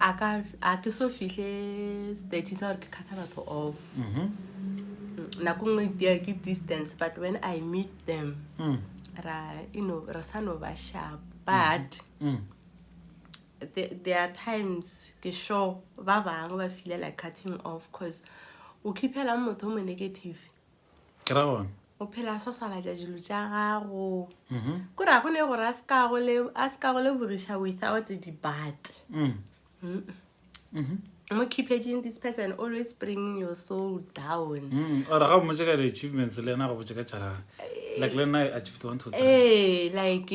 a ka a ke so fihle stating sa gore ke kgatha batho off Mhm. nako nngwe itea ke distance but when i meet them Mm. ra you know re sa no ba sharp but Mm. the- there are times ke sure ba bangwe ba feela like cutting off cause o khiphelang motho o mo negative ke ra gona o phela swaswalatša dilo tša gago mhm. ko ra go ne gore a se ka go lebogiša without debate mm. mhm. mo keepaging this person always bringing your soul down mm. ore ga o motse ka di-achievements le ena go botse ka tšharaga like le nna achieved one to three ee like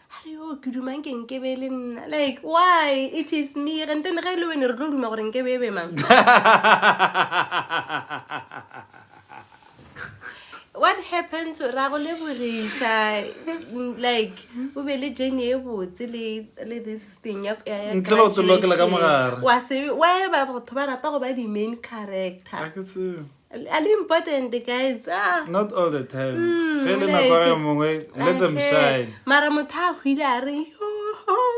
a re yo ke dumang ke nke be e le nna like why it is me gentene ge e le wene re tlo duma gore nke be e be mang what happened to ra go leboriša like o be le jane e botse le le this thing ya ya- ya Ntle le go te lokela ka graduation. mogare. wa se wa ba batho ba rata go ba di-main character a ke tsebe Are you important guys? Ah. Not all the time. Mm, Ge le nako ya mongwe, let them shine. Mara motho a hwile a re,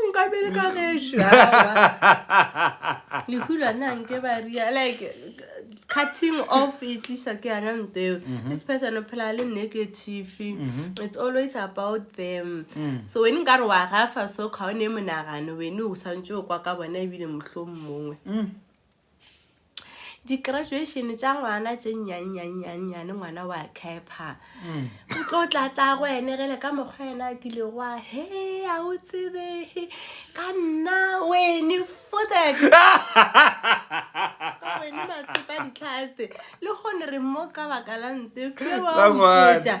nka bele ka gesho. Lehula na nke ba ria. Like, cutting off e tlisa ke yana nto eo. Mm-hmm. This person o phela le negative. Mm-hmm. It's always about them. Mm. So when nka re wa gafa so ka o ne monagano, wene o santse o kwa ka bona ebile mohlomongwe. Mm. di-graduation tša ngwana tše nnyannyannyane ngwana wa capha mm. o tlo tlatlago ene gele ka mokgwa ena a kile goa he a o tsebe ka nna wene fotek wene masepa ditlhase le gone re mo ka baka la nte ke wa mmoja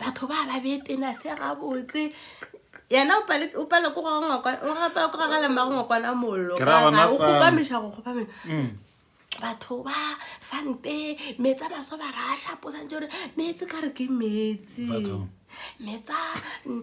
batho ba ba betena se gabotse yena o paletse- o palelwa ke go ga ngwakwana- o ga- palelwa ke go gagala mmago ngwakwana mollo Ke ra gona Ga- o fa- kgopamiša go kgopamisa Mm. batho ba sante metsi a maso ba ra shapo santse gore meetse ka re ke meetse Batho. metsa mm,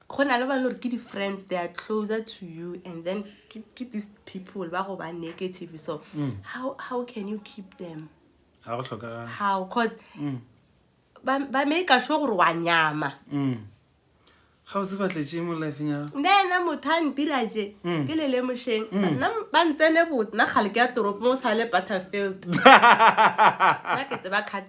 go na le ba lore ke di-friends they are closer to you and then ke these people ba go ba negative so mm. how, how can you keep them how because mm. ba make sure gore wa nyama mm. ga o se batletše mo lifeng ya nena motho a ntira je mm. ke lele mošeng mm. nna ba ntsene botna gale ke ya toropo mo sale butterfield nna ke tseba cat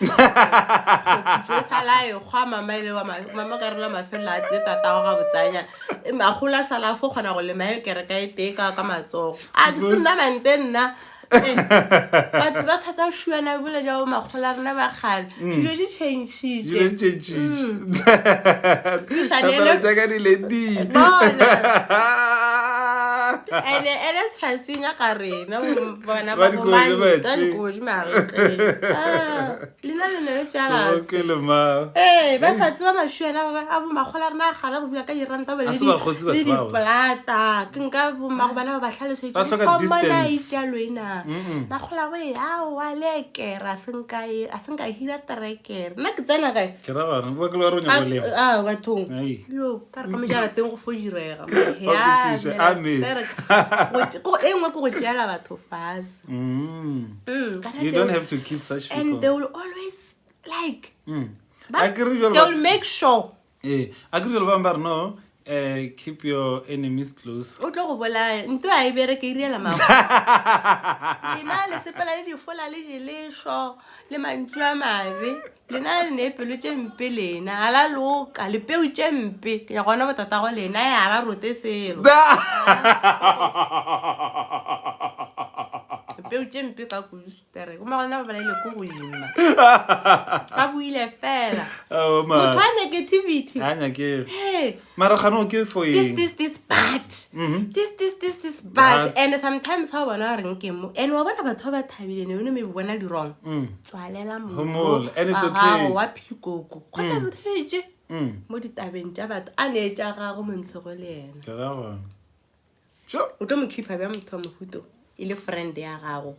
Khuputso e sala e kgwa mama e le wa ma- mama ka rela mafelelo a tse tatago ga botsanya E, magolo a sala fo kgona go lema e kereka e tee ka ka matsogo a ke se nna mante nna Eh, batho ba sa tsa šuana bole jao makgolo a rena bagale dilo di changitše dilo di tšetšitše Tshwanelo- tsaka di le di Bona. ene ene setsatsing a ka rena bona ba bomane ba dikodi lena le ne le jalase ee ba sa tseba mašuela gore a bomakgola rena a gala go bula ka diranta bole le dipolata ke nka bomago bana ba ba tlhalosetšeomona itšalo ena makgola go e aowa le ekera a senka hira terekere nna ke tsena kae bathong ka re ka mojarateng go fo direga e nngwe ke go tšeela batho faso mm. mm, and they will always like mm. they will make sure ee a ke jalo bangwe ba re no eh, keep your enemies close o tlo go bolaya nto a e bere ke iriela mago lena le sepela le difola le jelešo le mantšu a mabe Lena le ne pelo tše mpe lena. Ga la loka, lepeu tše mpe. Ke ya gona botatago lena, ya ba rote selo. Lepeu tše mpe ka kudu sister. Go magolena ba balaile ko go ima. Ba buile fela. Motho wa negativity. Ha nyakere. Hey. mara gano ke for this eng this this bad this this this this bad Bad. and sometimes ha o bona gore nke mo and wa bona batho ba ba thabile ne one maybe bona dirong tswalela Mm. Homol, and it's okay. Mm. gago wa phikoko kgotsa motho o etse mo ditabeng tša batho a ne tša gago montshogo le ena Ke ra gona. Sure. o tlo mo khipa bja motho wa mohuto e le friend ya gago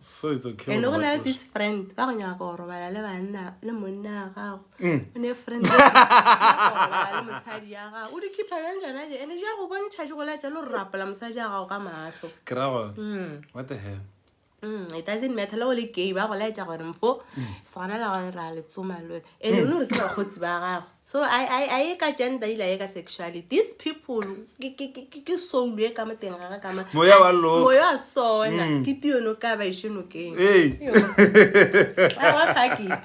so it's okay e le go na le this friend ba go nyaka go robala le banna le monna ya gago mm. o ne friend le mosadi ya gago o di khipha bjang tsona je ene ja go bontšha je go latša le go rapola mosadi ya gago ka maatlo kerago mm. what the hell mm, it doesn't matter le go le gay ba go laetša gore mfo sgona la gore ra le tsoma le ene o ne gore ke bakgotsi ba gago So a a a ye ka gender ile a ye ka sexuality. These people ke ke ke ke- ke soul e ka moteng ga ga ka ma. Moya wa As- loka. Moya wa sona Mm. ke tiyo no ka ba e sheno keng. Hey. Yo. Ah, wa pack it.